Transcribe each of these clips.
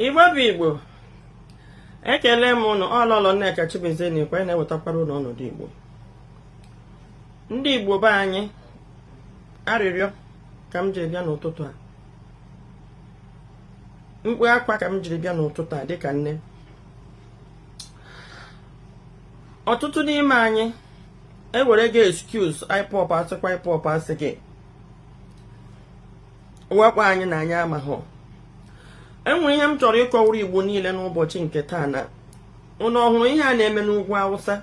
igbo bụ igbo ekele m ụnụ ọ lọlọ nneka chimezie na ikwe na-ewetakwara ụnụ ọnọdụ igbo ndị igbo be anyị arịrịọ ka m jiri bịa n'ụtụtụ a mkpu akwa ka m jiri bịa n'ụtụtụ a dịka nne ọtụtụ n'ime anyị ewerego excuse ipob asịkwa ipob asịghị wakpo anyị na anyị amaghị enwere ihe m chọrọ ịkọwara igbo niile n'ụbọchị nke taa na ụnụ ọ hụrụ ihe a na-eme n'ugwu awụsa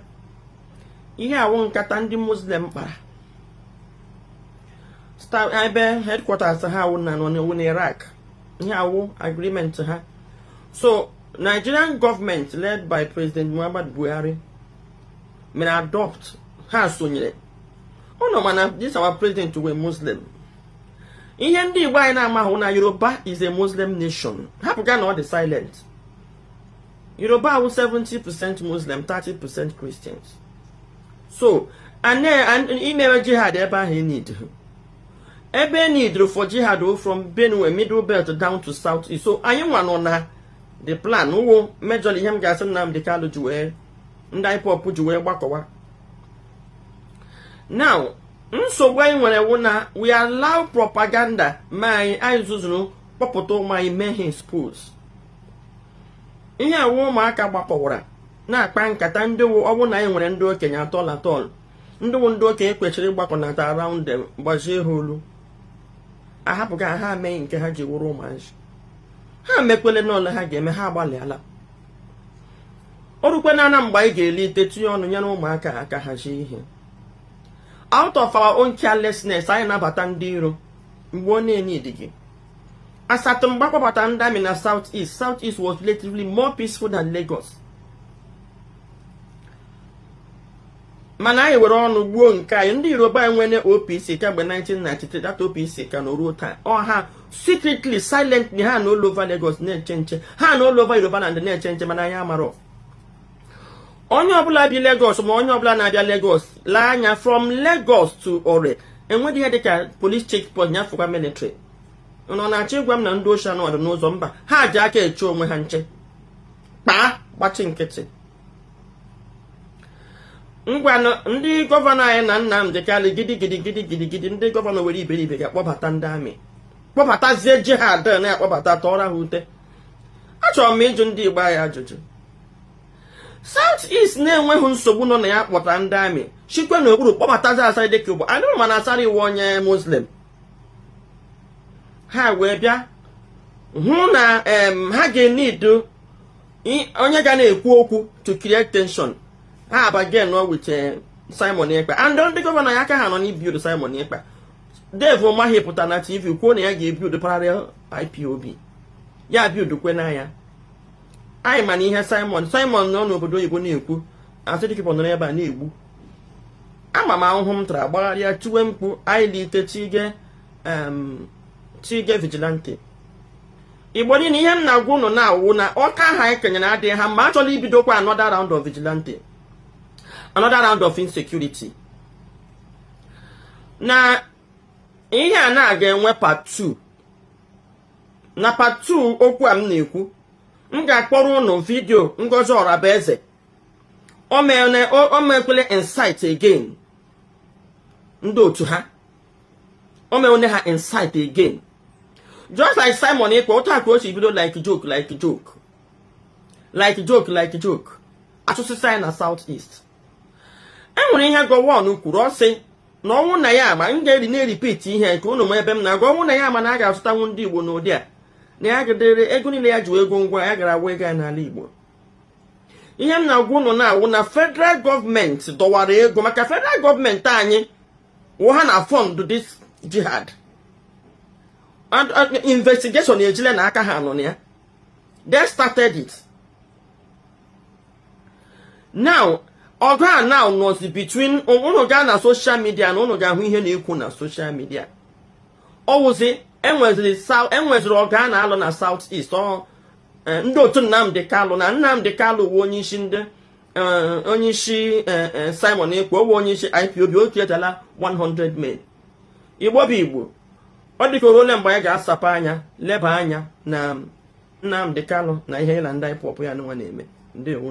ihe a wụ nkata ndị muslim kpara ebe headquarters ha wụ na nọ na iraq ihe a wụ agreement ha so nigerian government led by president muhammad buhari mere adopt ha sonyere ụnụ ma na this our president wụ muslim ihe ndị igbo anyị na-amahụ na yoruba is a muslim nation hapụga na ọ dị silent yoruba wụ 70 percent muslim 30 percent christians so imewe jihad ebe ahụ e needịrọ ebe e needịrị for jihad from benue middle belt down to south east so anyị nwa nọ na the plan ọ wụ major ihe m ga-asị Nnamdi Kanu ji wee ndị IPOB ji wee gbakọwa now nsogbu anyị nwere wụ na we allow propaganda ma anyị anyị zuzuru kpọpụta ụmụ anyị mee ha expose ihe a wụ ụmụaka gbakọwara na-akpa nkata ndị wụ ọ wụ na anyị nwere ndị okenye at all at all ndị wụ ndị okenye kwesịrị ịgbakọnata around them gbazie ha olu ahapụga ha mee nke ha ji wụrụ ụmụazị ha mekwele n'olu ha ga-eme ha agbalịala o rukwe na ana mgbe anyị ga-elite tinye ọnụ nyere ụmụaka aka hazie ihe out of our own carelessness anyị nabata ndị iro mgbe ọ na-eneedịghị as at mgbe akpọbata ndị army na south east south east was relatively more peaceful than Lagos mana anyị were ọnụ gbuo nke anyị ndị yoruba nwere opc kemgbe 1993 that opc ka nọ ruo taa ọ ha secretly silently ha nọ all over Lagos na-eche nche ha nọ all over yoruba land na-eche nche mana anyị amarọ onye ọbụla bi Lagos ma onye ọbụla na-abịa Lagos lee anya from Lagos to Ore enweghị ihe dịka police checkpoint ya fọkwa military ụnụ na-achọ ịgwa m na ndị oshi anọdụ n'ụzọ mba ha ji aka eche onwe ha nche kpaa gbachi nkịtị ngwanụ ndị gọvanọ anyị na Nnamdi Kanu gidi gidi gidi gidi gidi ndị gọvanọ were iberibe gaa kpọbata ndị army kpọbatazie jihad na-akpọbata tọọrọ ha ute achọrọ m ịjụ ndị Igbo anyị ajụjụ South East na-enweghị nsogbu nọ na ya kpọta ndị amị shikwe n'okpuru kpọbatazi Asari Dokubo anyị ma na Asari wụ onye muslim ha wee bịa hụ na ha ga-enidu onye ga na-ekwu okwu to create tension ha abargain with eh, Simon Ekpa and ndị gọvanọ anyị aka ha nọ n'ibuild Simon Ekpa Dave Umahi pụta na TV kwuo na ya ga-ebuild parallel IPOB ya biudukwe na ya anyị ma na ihe Simon Simon nọ n'obodo oyibo na-ekwu Asari Dokubo nọrọ ebe a na-egbu ama m ahụhụ m tara gbagharịa tiwe mkpu anyị lite tige tige vigilante igbo niile ihe m na-agwa ụnụ na-awụ na ọkụ ahụ anyị kenyere adịghị ha mma achọla ibidokwa another round of vigilante another round of insecurity na ihe a na-aga enwe part 2 na part 2 okwu a m na-ekwu m ga-akpọrọ ụnụ vidio Ngozi Orabueze o mere o mekwele incite again ndị otu ha o meene ha incite again just like Simon Ekpa otu a ka o si bido like joke like joke like joke like joke asụsụ anyị na South East e nwere ihe Gowon kwuru ọ sị na ọ wụ na ya ama m ga-eri na-erepeat ihe ka ụnụ ma ebe m na-aga ọ wụ na ya ama na a ga-azụtanwu ndị Igbo n'ụdị a na ya gadere ego niile ya ji wee ego ngwa ya gara agwa ego ya n'ala Igbo ihe m na-agwa ụnụ na-awụ na federal gọọmenti dọwara ego maka federal gọọmenti anyị wụ ha na-afund this jihad investigation ejile na aka ha nọ na ya they started it now ọgụ a now nọzi between ụnụ gaa na social media na ụnụ ga-ahụ ihe na-ekwu na social media ọ wụzi enweziri enweziri ọgụ a na-alụ na south east ọ e, ndị otu Nnamdi Kalụ na Nnamdi Kalụ wụ onye isi ndị e, onye isi e, Simon Ekpa wụ onye isi IPOB o ketala 100 men igbo bụ igbo ọ dịka ole mgbe anyị ga-asapụ anya leba anya na Nnamdị Kanụ na ihe ya na ndị IPOB ya nwa na-eme ndewo